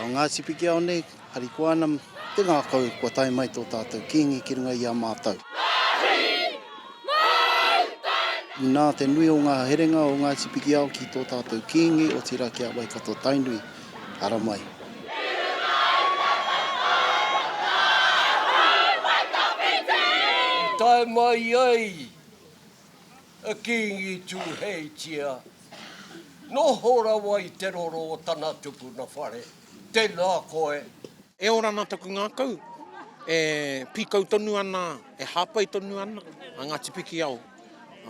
O Ngāti Pikiao nei, harikoa ana te ngākau kua tae mai tō tātou Kīngi ki runga i a mātou. Inā te nui o ngā herenga o Ngāti Pikiao ki tō tātou Kīngi, otirā ki a Waikato-Tainui. Haramai. Tae mai ai a Kingi Tuheitia, noho rawa i te roro o tana tupuna whare. Tena koe. E ora ana taku ngakau, e pikau tonu ana, e hapai tonu ana a Ngati Pikiao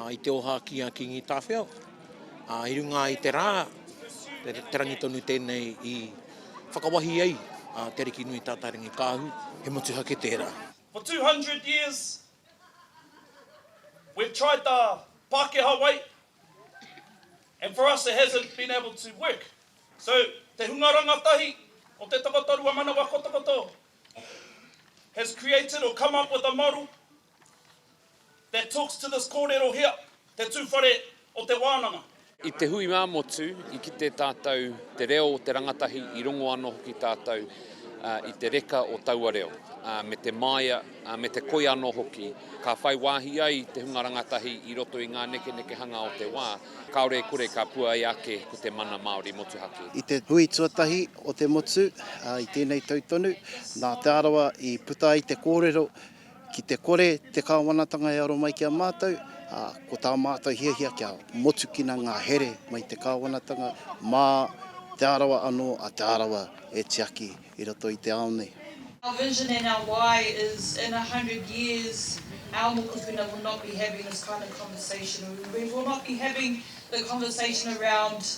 i te oha ki a Kingi Tawhiao. Ā, i runga i te rā, te rangi tonu tēnei i whakawahi ai a Te Arikinui Tātairangikaahu, he motuhake tērā. For two hundred years we've tried the Pakeha way and for us it hasn't been able to work. So te hunga rangatahi o te takoto ruamanawa kotokoto has created or come up with a model That talks to this kōrero hea, te tūwhare o te wānanga. I te hui ā-motu, i kite tātou te reo o te rangatahi, i rongo anō hoki tātou i te reka o taua reo, me te māia, me te koi anō hoki. Ka whai wāhi ai te hunga rangatahi i roto i ngā nekenekehanga o te wā, kāore e kore ka puāia ake ko te mana Māori motuhake. I te hui tuatahi o te motu, i tēnei tau tonu, nā Te Arawa i puta ai te kōrero Ki te kore te Kāwanatanga e aro mai ki a mātou, ā, ko tā mātou hiahia kia motukina ngā here mai te Kāwanatanga mā Te Arawa anō, a Te Arawa e tiaki i roto i te ao nei. Our vision and our why is in a hundred years our mokopuna will not be having this kind of conversation, we will not be having the conversation around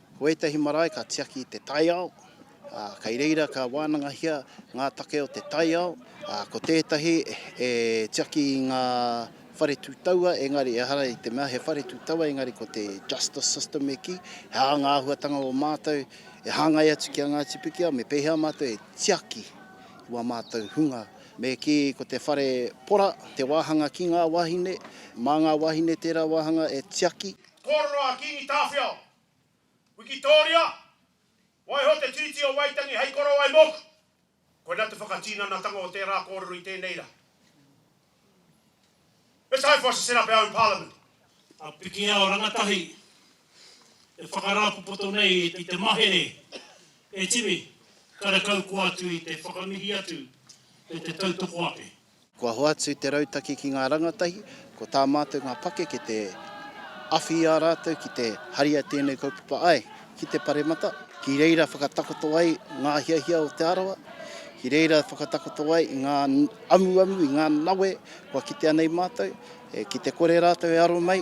Ko ētahi marae ka tiaki i te taiao, ā, kei reira ka wānangahia ngā take o te taiao, ā, ko tētahi e tiaki i ngā whare tū taua, engari ehara i te mea he whare tū taua, engari ko te justice system e kī, he aha ngā āhuatanga o mātou e hāngai atu ki a Ngāti Pikiao, me pēhea mātou e tiaki i wā mātou hunga. Me kī, ko te whare pora, te wāhanga ki ngā wāhine, mā ngā wāhine tērā wāhanga e tiaki. Kōrero a Kīngi Tāwhiao, Wikitōria, Waiho te Tiriti o Waitangi hei korowai mōku! Koinā te whakatīnanatanga o tērā kōrero i tēnei rā. It's time for us to set up our own parliament. A Pikiao Rangatahi e whakarāpopoto nei i te mahere e Timi, karekau koa atu i te whakamihi atu me te tautoko ake. Kua hoatu te rautaki ki ngā rangatahi, ko tā mātou ngā pakeke te awhi i a rātou ki te haria tēnei kaupapa ai ki te paremata, ki reira whakatakoto ai ngā hiahia o Te Arawa, ki reira whakatakoto ai i ngā amuamu, i ngā nawe kua kitea nei mātou, ki te kore rātou e aro mai.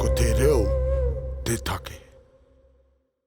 Ko te reo te take.